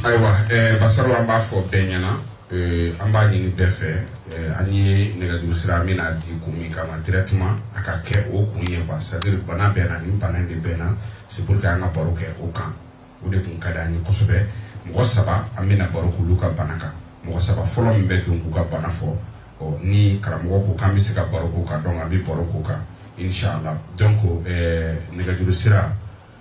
ayiwa eh, basaru an b'a fɔ bɛɛ ɲɛna eh, an b'a ɲini bɛɛ fɛ eh, an ye nɛgɛjuru sira min na di kun min kama directement a ka kɛ o kun ye quoi c'est à dire bana bɛ n na nin bana in de bɛ n na c'est pour que an ka baro kɛ o kan o de kun ka di an ye kosɛbɛ mɔgɔ saba an bɛna baro k'olu ka bana kan mɔgɔ saba fɔlɔ min bɛ don k'u ka bana fɔ ɔ ni karamɔgɔ ko k'an bɛ se ka baro k'o kan donc an bɛ baro k'o kan inshallah donc eh, nɛgɛjuru sira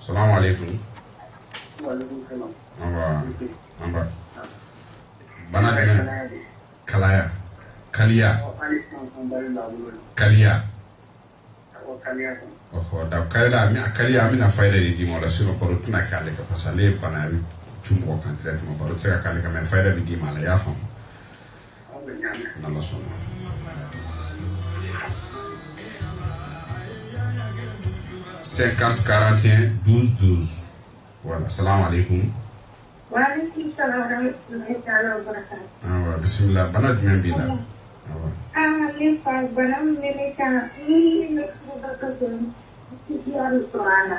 Salam aleyikum. Wa aleyikum salam. An ba. An ba. Bana jumɛn? Kalaya. Kaliya. Kaliya. Ɔhɔ da kaliya an bɛna kaliya an bɛna fayida de d'i ma o la sinon baro tɛna kɛ ale kan parce que ale ye bana ye a bɛ cun mɔgɔ kan directement baro tɛ se ka k'ale kan mais fayida bɛ d'i ma a la i y'a faamu. Sen ka kate du duuru wala sara de kun bisimila bana jumɛn bɛ la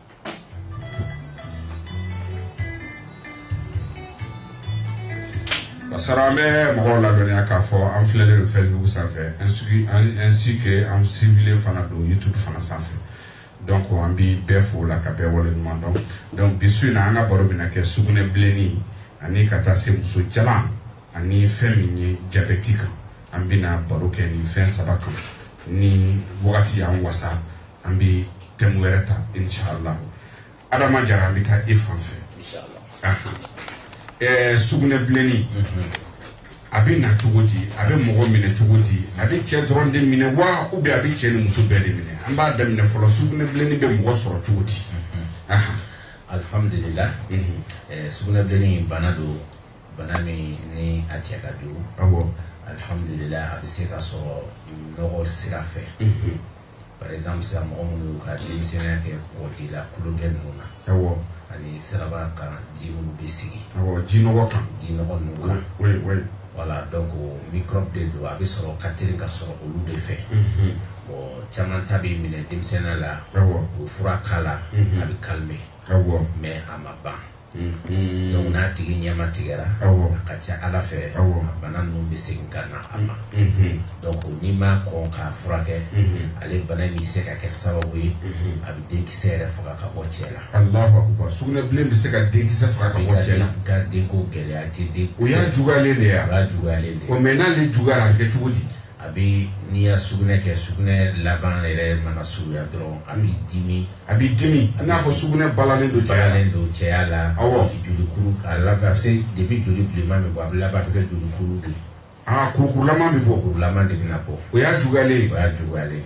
basara an bɛ mɔgɔw ladɔnniya k'a fɔ an filɛlen don facebook sanfɛ ainsi que an suivilen fana don youtube fana sanfɛ donc an bi bɛɛ fo la ka bɛɛ waleɲuman dɔn donc bi su in na an ka baro bɛna kɛ sugunɛbilenni ani ka taa se muso jalan ani fɛn min ye jabɛti kan an bɛna baro kɛ nin fɛn saba kan ni wagati y'an wasa an bɛ thème wɛrɛ ta inshallah adama jara an bɛ taa e fan fɛ ɛɛ sugunɛbilenni a bɛ na cogo di a bɛ mɔgɔ minɛ cogo di a bɛ cɛ dɔrɔn de minɛ wa ou bien a bɛ cɛ ni muso bɛɛ de minɛ an b'a daminɛ fɔlɔ sugunɛbilenni bɛ mɔgɔ sɔrɔ cogo di alhamdulilah sugunɛbilenni bana don bana min ni a cɛ ka jugu awɔ alhamdulila a bɛ se ka sɔrɔ nɔgɔ sira fɛ mhm. par exemple sisan mɔgɔ minnu y'u ka denmisɛnniya kɛ kɔji la tulonkɛ ninnu na awɔ ani siraba kan ji minnu bɛ sigi awɔ ji nɔgɔ kan ji nɔgɔ ninnu kan oui oui voilà donc microbe de don a bɛ sɔrɔ ka teli ka sɔrɔ olu de fɛ mhm. bon caman ta bɛ minɛ denmisɛnniya la awɔ o fura k'a la mhm. a bɛ calmer awɔ mais a ma ban Donc n'a tigi ɲɛma tigɛra a ka ca a la fɛn a bana ninnu bɛ segin ka na a ma donc n'i ma kɔn k'a furakɛ ale bana in bɛ se ka kɛ sababu ye a bɛ denkisɛ yɛrɛ faga ka bɔ cɛ la allahu akbar sugunɛbilenni bɛ se ka denkisɛ faga ka bɔ cɛ la ka denko gɛlɛya tiɲɛ don o y'a juguyalen de ye a juguyalen mais n'ale juguyara a kɛ cogo di A bɛ n'i y'a sugunɛ kɛ sugunɛ laban yɛrɛ mana surunya dɔrɔn a b'i dimi, a b'i dimi i n'a fɔ sugunɛ balalen don cɛya la, balalen don cɛya la, awɔ, jolikuru a laban a bɛ se depuis joli bilenman bɛ bɔ a bɛ laban a bɛ kɛ jolikuru de ye, aa, kurukurulama bɛ bɔ, kurukurulama de bɛna bɔ, o y'a juguyalen ye, o y'a juguyalen ye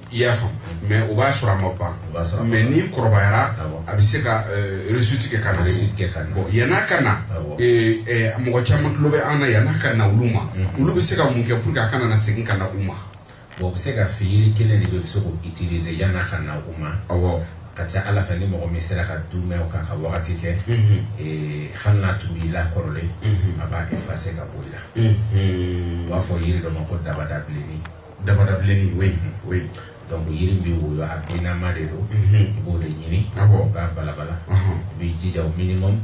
i y'a faamu mais o b'a sɔrɔ a ma ban mais n'i kɔrɔbayara a bɛ se ka réussite kɛ ka na bon yann'a ka na mɔgɔ caman tulo bɛ an na yann'a ka na olu ma olu bɛ se ka mun kɛ pour que a kana na segin ka na u ma bon u bɛ se ka fi yiri kelen de bɛ u bɛ se k'o utiliser yann'a ka na u ma awɔ ka ca ala fɛ ni mɔgɔ min sera ka duumɛ o kan ka wagati kɛ hali n'a tun b'i la kɔrɔlen a b'a effacer ka bɔ i la u b'a fɔ yiri dɔ ma ko dabadabilennin Dabadabilennin oui oui donc yiri bɛ woyo a binnama de don i b'o de ɲini i b'a balabala i b'i jija au minimum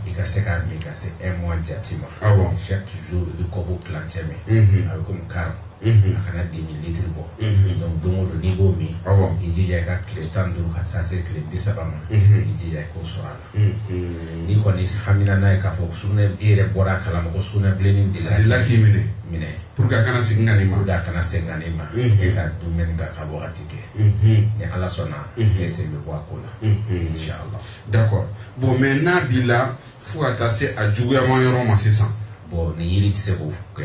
i ka se k'a min ka se un mois jate ma chaque jour i bɛ kɔpu tilancɛ min a bɛ comme quart a kana demi litre bɔ donc don o don n'i b'o min i jija i ka tile tan ni duuru ka taa se tile bi saba ma i jija i k'o sɔrɔ a la N'i kɔni hamina n'a ye k'a fɔ sugun e yɛrɛ bɔra a kalama ko sugunɛbilenni delila k'i minɛ minɛ pour que a kana segin ka n'i ma a kana segin ka n'i ma e ka duumɛ a kan ka wagati kɛ ni ala sɔnna e sen bɛ bɔ a ko la inchallah d'accord bon mais n'a b'i la fo ka taa se a juguyama yɔrɔ ma sisan bon ni yiri tɛ se k'o kɛ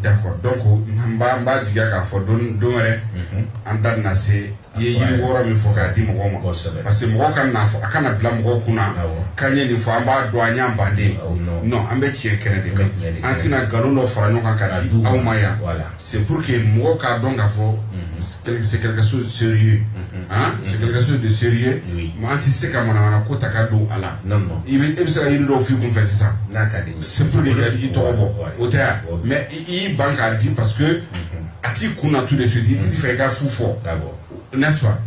D'accord donc n b'a jigi k'a fɔ don wɛrɛ an da na se i ye yiri wɔɔrɔ min fɔ k'a di mɔgɔ ma parce que mɔgɔ kan'a fɔ a kana bila mɔgɔ kun na k'an ye nin fɔ an b'a dɔn an y'an ban de non an bɛ tiɲɛ kɛnɛ de an tɛna nkalon dɔ fara ɲɔgɔn kan ka di aw ma yan C'est pour que mɔgɔw k'a dɔn k'a fɔ c'est quelque chose de sérieux hein c'est quelque chose de sérieux an tɛ se ka manamana ko ta ka don a la i bɛ se ka yiri dɔw f'i kun fɛ sisan c'est pour que ka i tɔgɔ bɔ o tɛ ya mais i y'i ban k'a di parce que a t'i kun na tout de suite i tɛ fɛ i ka fu fɔ n'est-ce pas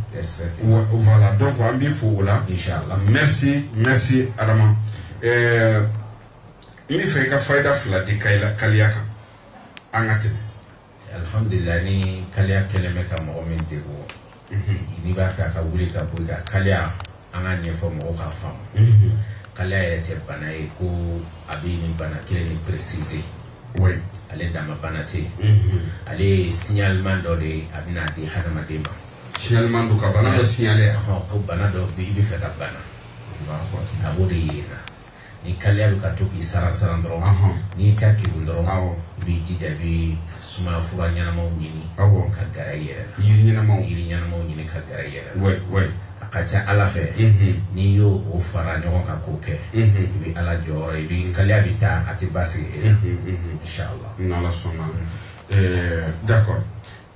voilà donc an b'i fo o la inchallah merci merci Adama ɛɛ n bɛ fɛ i ka fayida fila di kaliya kan an ka tɛmɛ alhamdulillah ni kaliya kɛlen bɛ ka mɔgɔ min degun n'i b'a fɛ a ka wuli ka bɔ i kan kaliya an k'a ɲɛfɔ mɔgɔw k'a faamu kaliya yɛrɛ tɛ bana ye ko a bɛ nin bana kelen nin préciser ale dama bana tɛ ale ye signalement dɔ de ye a bɛna di hadamaden ma signalement don ka bana dɔ signaler ko bana dɔ bɛ i bɛ fɛ ka bana a b'o de yir'i la Ni kaliya bɛ ka to k'i saran saran dɔrɔn. Ɔnhɔn. N'i ka kegun dɔrɔn. Awɔ. I b'i jija i bɛ sumaya fura ɲɛnamaw ɲini. Awɔ. Ka gɛrɛ i yɛrɛ la. Yiri ɲɛnamaw. Yiri ɲɛnamaw ɲini ka gɛrɛ i yɛrɛ la. Oui oui. A ka ca Ala fɛ. Unhun. N'i y'o o fara ɲɔgɔn kan k'o kɛ. Unhun. I bɛ Ala jɔyɔrɔ ye, i bɛ, kaliya bɛ taa, a tɛ basigi e la. Unhun unhun. Inchallah. N'Ala sɔnna. Ɛɛ d'accord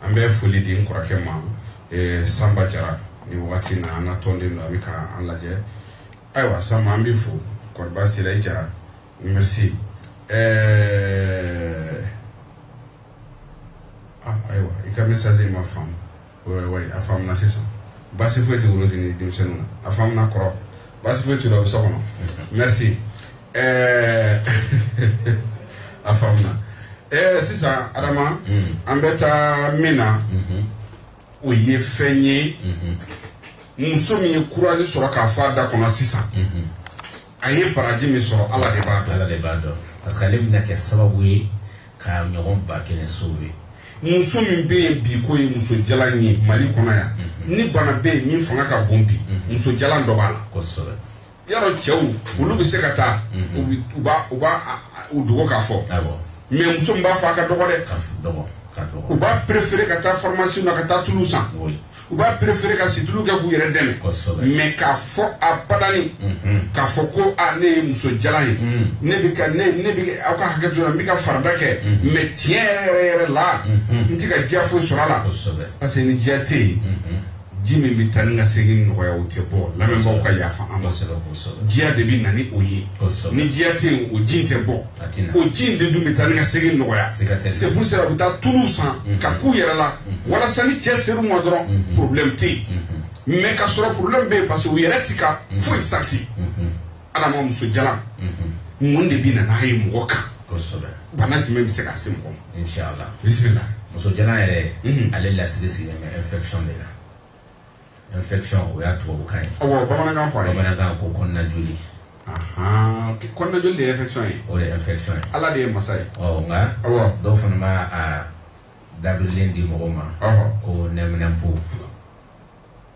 an bɛ foli di n kɔrɔkɛ ma, ɛɛ Sanba Jara, nin wagati in na an ka tɔnden don, a bɛ ka an lajɛ. Ayiwa Sanba an b'i fo kɔri baasi t'i la i Jara merci ɛɛ ah ayiwa i ka message in ma faamu oui oui a faamuna sisan baasi foyi tɛ Worozi ni denmisɛnniw na a faamuna kɔrɔ baasi foyi t'u la u bɛ so kɔnɔ merci ɛɛ a faamuna ɛɛ sisan Adama an bɛ taa min na o ye fɛn ye muso min ye kurazi sɔrɔ k'a fɔ a da kɔnɔ sisan a ye baraji min sɔrɔ ala de b'a dɔn ala de b'a dɔn parce que ale bɛna kɛ sababu ye k'a ɲɔgɔn ba kelen sauver muso min bɛ yen bi ko ye muso jalan ye mali kɔnɔ yan ni bana bɛ yen min fanga ka bon bi muso jalan dɔ b'a la kosɛbɛ yɔrɔ cɛw olu bɛ se ka taa u bi- u b'a u b'a a- a- u dogo k'a fɔ Awɔ. mais muso min b'a fɔ a ka dɔgɔ dɛ Ka f- dɔgɔ. Ka dɔgɔ. u b'a préférer ka taa pharmacie na ka taa tulu san Oui. u b'a préférer ka situlu kɛ k'u yɛrɛ dɛmɛ Kosɛbɛ. mais k'a fɔ a badani k'a fɔ ko a ne ye muso jalan ye ne bɛ ka ne ne bɛ ka- aw ka hakɛ to la n bɛ ka farada kɛ mais tiɲɛ yɛrɛ yɛrɛ yɛrɛ la n tɛ ka diya foyi sɔrɔ a la Kosɛbɛ. parce que ni diya tɛ yen ji min bɛ taa ni ka segin nɔgɔya o tɛ bɔ lamɛnbaaw ka yafa an ma diya de bɛ na ni o ye ni diya tɛ yen o ji tɛ bɔ o ji in de dun bɛ taa ni ka segin nɔgɔya c'est pour cela u bɛ taa tulu san mhm. k'a k'u yɛrɛ la mhm. walasa ni cɛ ser'u ma dɔrɔn mhm. problème tɛ yen mais k'a sɔrɔ problème bɛ yen parce que u yɛrɛ ti ka foyi sentir Adama muso jalan mun de bɛ na n'a ye mɔgɔ kan kosɛbɛ bana jumɛn bɛ se ka se mɔgɔ ma inshallah bisimila muso jalan yɛrɛ mhm. ale lasiri sigilen bɛ infection de la infection o y'a tubabukan ye awɔ bamanankan fɔ a ye bamanankan ko kɔnɔna joli kɔnɔna joli de ye infection ye o de ye infection ye ala de ye masa ye ɔ nka awɔ dɔw fana b'a a dabirilen di mɔgɔ ma ko nɛminɛnpo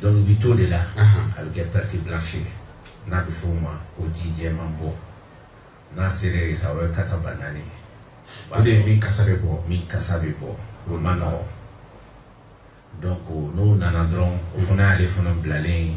Donc i bɛ t'o de la a bɛ kɛ perte blanche ye n'a bɛ f'o ma ko ji jɛman bɔ n'a sera yen sa o ye kata ba naani ye o de ye min kasa bɛ bɔ min kasa bɛ bɔ o man nɔgɔn donc n'o nana dɔrɔn o fana y'ale fana bilalen ye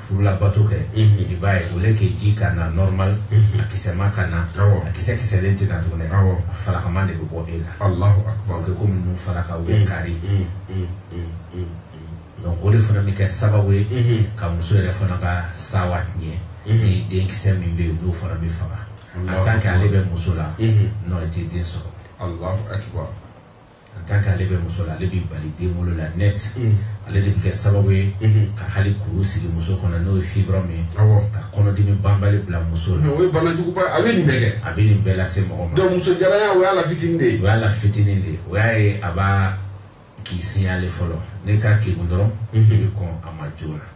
furulabato kɛ i b'a ye au lieu que ji ka na normal a kisɛma ka na a kisɛ kisɛlen tɛ na tuguni a falakama de bɛ bɔ e la alahu akbar ko minnu falaka u bɛ kari donc o de fana bɛ kɛ sababu ye ka muso yɛrɛ fana ka sawa tiɲɛ ni denkisɛ min bɛ yen olu fana bɛ faga en tant que ale bɛ muso la non i tɛ den sɔrɔ alahu akbar en tant que ale bɛ muso la ale bɛ bali den wolo la net ale de bɛ kɛ sababu ye ka hali kuru sigi muso kɔnɔ n'o ye fibrome ye ka kɔnɔdimi banbali bila muso la o ye banajuguba a bɛ nin bɛɛ a bɛ nin bɛɛ lase mɔgɔ ma muso o y'a la fitinin de ye o y'a la fitinin de ye o y'a ye a b'a k'i signaler fɔlɔ n'i ka kekun dɔrɔn i bɛ kɔn a ma joona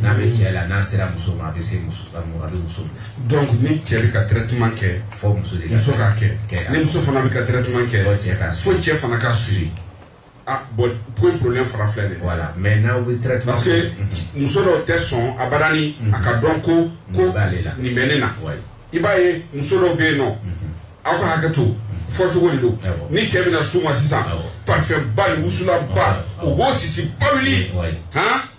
n'a bɛ cɛ la n'a sera muso ma a bɛ se muso a bɛ muso minɛ donc ni cɛ bɛ ka traitement kɛ fo muso de muso k'a kɛ ni muso fana bɛ ka traitement kɛ fo cɛ ka fo cɛ fana k'a suivre ah bon ko in problème fara filɛ de voilà mais n'aw bɛ traitement parce que muso dɔw tɛ sɔn abadani a ka dɔn ko ko nin bɛ ne na i b'a ye muso dɔw bɛ yen nɔ aw ka hakɛ to fɔcogo de don ni cɛ bɛna s'u ma sisan parfumba ni wusulanba u b'o sisiba wuli han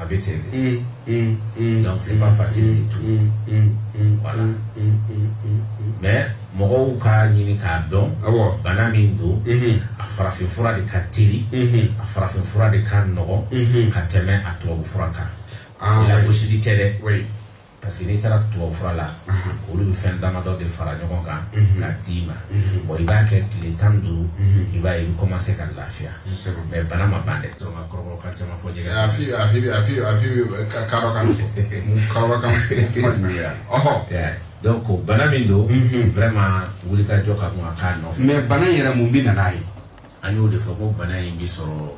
a bɛ ten de donc c'est pas facile du tout voilà mais mɔgɔw k'a ɲini k'a dɔn bana min don a farafinfura de ka teli a farafinfura de ka nɔgɔn ka tɛmɛ a tubabufura kan lagosili tɛ dɛ parce que n'i taara tubabufura la olu bɛ fɛn damadɔ de fara ɲɔgɔn kan k'a d'i ma bon i b'a kɛ tile tan ni duuru i b'a ye i bɛ commencer ka lafiya mais bana ma ban dɛ donc a kɔrɔbɔrɔ ka caman fɔ jɛgɛ a fi a fi a fi a fi ka karɔ kan karɔ kan kuma jumɛn bɛ yan ɔhɔ donc o bana min don vraiment wulikajɔ ka kan ka k'a nɔfɛ mais bana in yɛrɛ mun bɛ na n'a ye an y'o de fɔ ko bana in bɛ sɔrɔ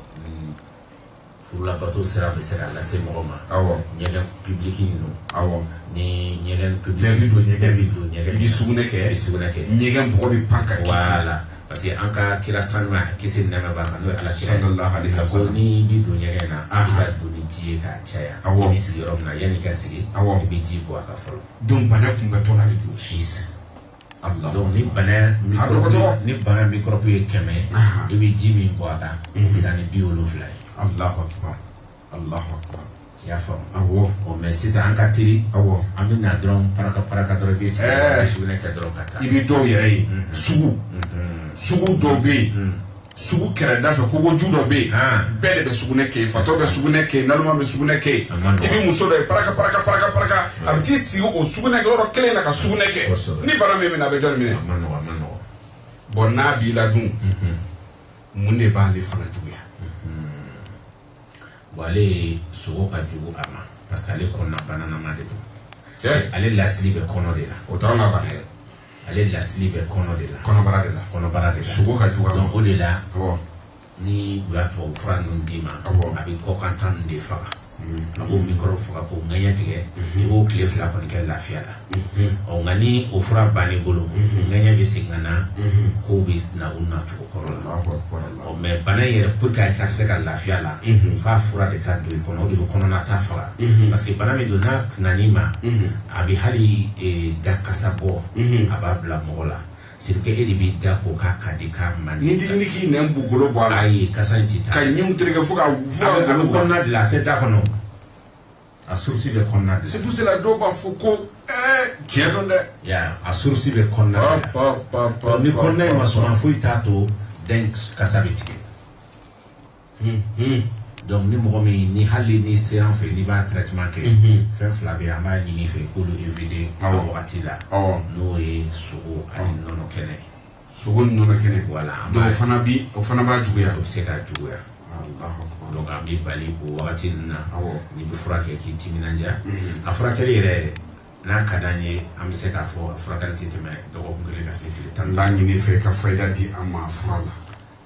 furulabato sira bɛ se ka lase mɔgɔ ma awɔ ɲɛgɛn public ninnu awɔ ni ɲɛgɛn public bɛɛ bɛ don ɲɛgɛn bɛ don ɲɛgɛn i bɛ sugunɛ kɛ i bɛ sugunɛ kɛ ɲɛgɛn bɔgɔ bɛ pan ka voilà parce que an ka kira sanuma kisi ni nɛɛma b'a kan n'o ye ala kira sallallahu alaihi wa sallam ko n'i bɛ don ɲɛgɛn na i ka don ni ji ye k'a caya awɔ i bɛ sigi yɔrɔ min na yanni i ka sigi awɔ i bɛ ji bɔn a kan fɔlɔ donc bana kunbɛntɔ la de don si ni bana ni bana microbe ye kɛmɛ i bɛ ji min bɔn a kan o bɛ taa ni bi wolonwula ye i y'a faamu mais sisan an ka teli an bɛ na dɔrɔn pa paraka dɔrɔn i bɛ sigi i sugunɛ kɛ dɔrɔn ka taa i bɛ dɔw yɛrɛ ye sugu sugu dɔw bɛ yen sugu kɛrɛda fɛ kogoju dɔ bɛ yen ah. bɛɛ de bɛ sugunɛ kɛ yen fatɔ bɛ sugunɛ kɛ yen naloma bɛ sugunɛ kɛ yen i bɛ muso dɔ ye paraka paraka paraka paraka a bɛ t'i sigi o sugunɛ kɛ yɔrɔ kelen na ka sugunɛ kɛ ni bana m'i minɛ a bɛ jɔn minɛ bon n'a b'i la dun mhm. mun de b'ale fana juguya mhm. ale sogo ka jugu a ma parce que ale kɔnɔna bananama de don ale lasili bɛ kɔnɔ de la o t'anw ka bana ye ale lasili bɛ kɔnɔ de la kɔnɔbara de la kɔnɔbara de la sogo ka jugu donc o de la ni u y'a tubabu fura ninnu d'i ma a bɛ kɔkanta ninnu de faga a b'o mikɔrɔbu faga k'o ŋɛɲɛ tigɛ i b'o tile fila kɔni kɛ lafiya la ɔ nka ni o fura bann'i bolo ŋɛɲɛ bɛ segin ka na kow bɛ na u nacogo kɔrɔ la Ɔ mais bana in yɛrɛ pour que a ka se ka lafiya la f'a fura de ka don i kɔnɔ o de bɛ kɔnɔnata faga parce que bana min don n'a nan'i ma a bɛ hali e, da kasa bɔ a b'a bila mɔgɔ la c'est que e de b'i da ko k'a ka di k'a man di ni k'i nɛn b'u golo bɔ a la ayi kasa in tɛ taa ka ɲinw tereke fo ka a bɛ kɔnɔna de la a tɛ da kɔnɔ A source bɛ kɔnɔna de la. C'est pour cela dɔw b'a fɔ ko ɛɛ tiɲɛ don dɛ. I y'a ye a source bɛ kɔnɔna de la. Pa pa pa ni kɔnɔna in ma suma foyi t'a to da in kasa bɛ tigɛ. Hun hun. Donc ni mɔgɔ min ni hali n'i sera an fɛ n'i b'a traitement kɛ. Unhun. Fɛn fila bɛ yen an b'a ɲini i fɛ i k'olu éviter. Awɔ. A wagati la. Awɔ. N'o ye sogo ani nɔnɔ kɛnɛ. sogo ni nɔnɔ kɛnɛ voilà donc o fana bi o fana b'a juguya o bɛ se k'a juguya donc an b'i bali o wagati ninnu na n'i bɛ fura kɛ k'i timinandiya mm-hmm. a furakɛli yɛrɛ n'a ka d'an ye an bɛ se k'a fɔ a furakɛli tɛ tɛmɛ dɔgɔkun kelen ka se tile tan n b'a ɲini i fɛ ka fayida di an ma fura la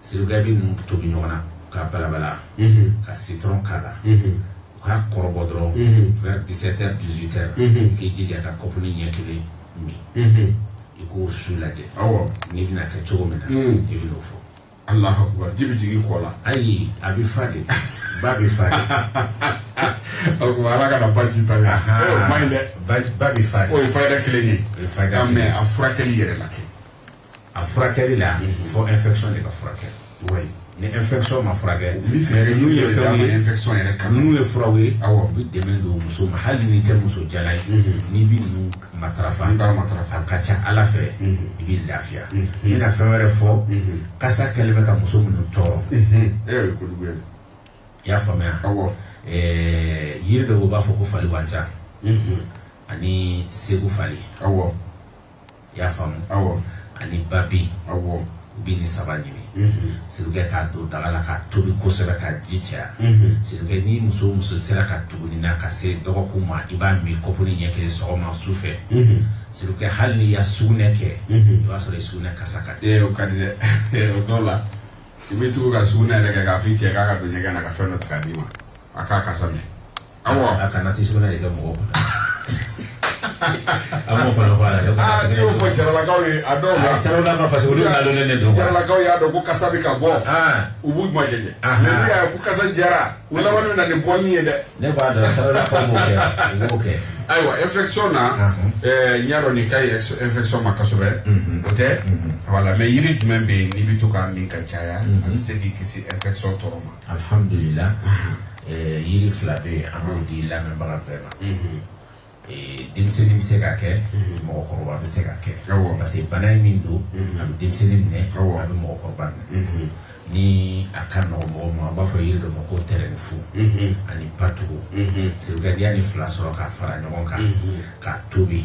siri kɛ i bɛ ninnu tobi ɲɔgɔn na ka balabala ka citron k'a la u k'a kɔrɔbɔ dɔrɔn vers 17 heures 18 heures k'i jija ka kɔpuni ɲɛ kelen min i k'o su lajɛ n'i bɛna kɛ cogo min na i bɛn'o fɔ Allahu akbar ji bɛ jigin kɔ la ayi a bɛ fa de ba bɛ fa de o tuma ala kana baji ta la o man ɲi dɛ ba bɛ fa de o ye fayida kelen ye o ye fayida kelen ye a furakɛli yɛrɛ la kɛ a furakɛli la fo infection de ka furakɛ ni infection ma furakɛ ninnu ye fɛnw ye infection yɛrɛ kan ninnu ye furaw ye awɔ u bɛ dɛmɛ don muso ma hali n'i tɛ muso jalan ye mhm. n'i bɛ ninnu matarafa n'i b'a matarafa a ka ca ala fɛ mhm. i bɛ lafiya n mhm. bɛna fɛn wɛrɛ fɔ kasa kɛlen bɛ ka muso minnu tɔɔrɔ e yɛrɛ ko jugu ye i y'a faamuya awɔ eh, yiri dɔw b'a fɔ ko fali wanca ani segu fali awɔ i y'a faamu awɔ ani babi awɔ u bɛ nin saba ɲini sirikɛ k'a don daga la k'a tobi kosɛbɛ k'a ji caya sirikɛ ni muso o muso sera ka tugu nin na ka se dɔgɔkun ma i b'a min kɔpuni ɲɛ kelen sɔgɔma su fɛ sirikɛ hali n'i ya sugunɛ kɛ i b'a sɔrɔ i sugunɛ kasa ka di o ka di dɛ o dɔw la i bɛ tugu ka sugunɛ yɛrɛ kɛ k'a f'i cɛ k'a ka don ɲɛgɛn na ka fɛn dɔ ta k'a d'i ma a k'a kasa mɛn A kana taa sugunɛ de kɛ mɔgɔ kun a m'o fana fɔ n'i y'o fɔ jaralakaw ye a dɔw la jaralakaw parce que olu y'a dɔn ne don jaralakaw y'a dɔn ko kasa bɛ ka bɔ u b'u majɛjɛ mais n'u y'a ye ko kasa diyara u laban bɛ na ni boli ye dɛ ne b'a dɔn jaralakaw b'o kɛ u b'o kɛ ayiwa infection na n y'a dɔn nin ka ɲi infection ma kosɛbɛ o tɛ voilà mais yiri jumɛn bɛ yen n'i bɛ to k'a min ka caya a bɛ se k'i kisi infection tɔɔrɔ ma Alihamdulila yiri fila bɛ yen an b'o di lamɛnbaga bɛɛ ma denmisɛnnin bɛ se k'a kɛ mɔgɔkɔrɔba bɛ se k'a kɛ parce que bana in min don a bɛ denmisɛnnin minɛ a bɛ mɔgɔkɔrɔba minɛ ni a ka nɔgɔ mɔgɔ ma a b'a fɔ yiri dɔ ma ko tɛrɛnifu ani patugu sirikɛ n'i ya nin fila sɔrɔ k'a fara ɲɔgɔn kan k'a tobi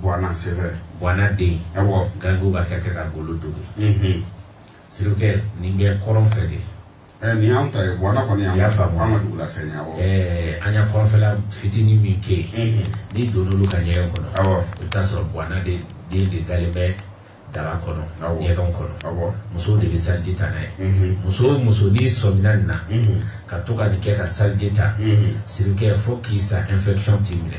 Bwana c'est vrai bwana den awɔ garankɛw b'a kɛ ka golo dogi sirikɛ nin bɛ kɔrɔn fɛ de eh, nin y'an ta ye bwana kɔni y'an y'a faamu an ka dugu la fɛn ye awɔ eh, an y'a kɔrɔnfɛla fitinin min kɛ yen n'i donn'olu ka ɲɛgɛn kɔnɔ awɔ i bɛ taa sɔrɔ bwana de den de dalen bɛ daga kɔnɔ ɲɛgɛnw kɔnɔ awɔ musow de bɛ saliji ta n'a ye muso o muso n'i sɔmina nin na ka to ka nin kɛ ka saliji ta sirikɛ fo k'i sa infection t'i minɛ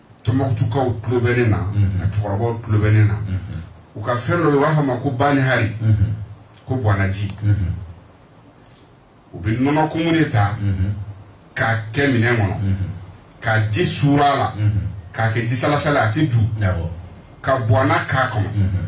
Tɔnbukutukaw tulo bɛ ne na, unhun, a cɛkɔrɔbaw tulo bɛ ne na, unhun, u ka fɛn dɔ bɛ yen u b'a fɔ a ma ko banihari, unhun, ko bwanaji, unhun, u bɛ nɔnɔkumu de ta, unhun, k'a kɛ minɛn kɔnɔ, unhun, ka ji suuru a la, unhun, k'a kɛ jisalasala ye a tɛ du, awɔ, ka bwana k'a kɔnɔ, unhun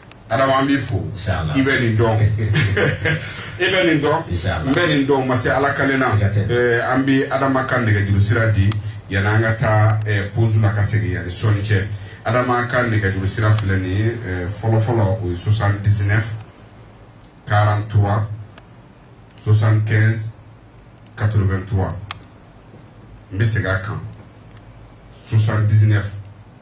Adama an b'i fo Inshallah. i bɛ nin dɔn i bɛ nin dɔn Inshallah. n bɛ nin dɔn ma se ala kale na Siga tɛ. Eh, an bɛ adama ka nɛgɛjuru sira di yanni an ka taa eh, pause la ka segin yanni sɔɔni cɛ adama ka nɛgɛjuru sira filɛ nin ye eh, fɔlɔfɔlɔ o ye 79 43 75 83 n bɛ segin a kan 79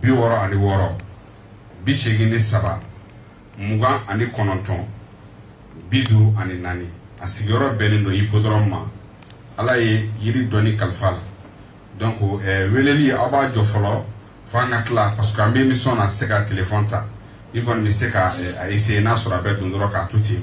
bi wɔɔrɔ ani wɔɔrɔ bi seegin ni saba mugan ani kɔnɔntɔn bi duuru ani naani a sigiyɔrɔ bɛnnen don hippodrome ma ala ye yiri dɔnni kalifa a la donc eh, weleli aw b'a jɔ fɔlɔ fo an ka tila parce que an bɛ émission na a tɛ se ka téléphone ta i kɔni bɛ se ka eh, a essayer n'a sɔrɔ a bɛ don dɔrɔn k'a to ten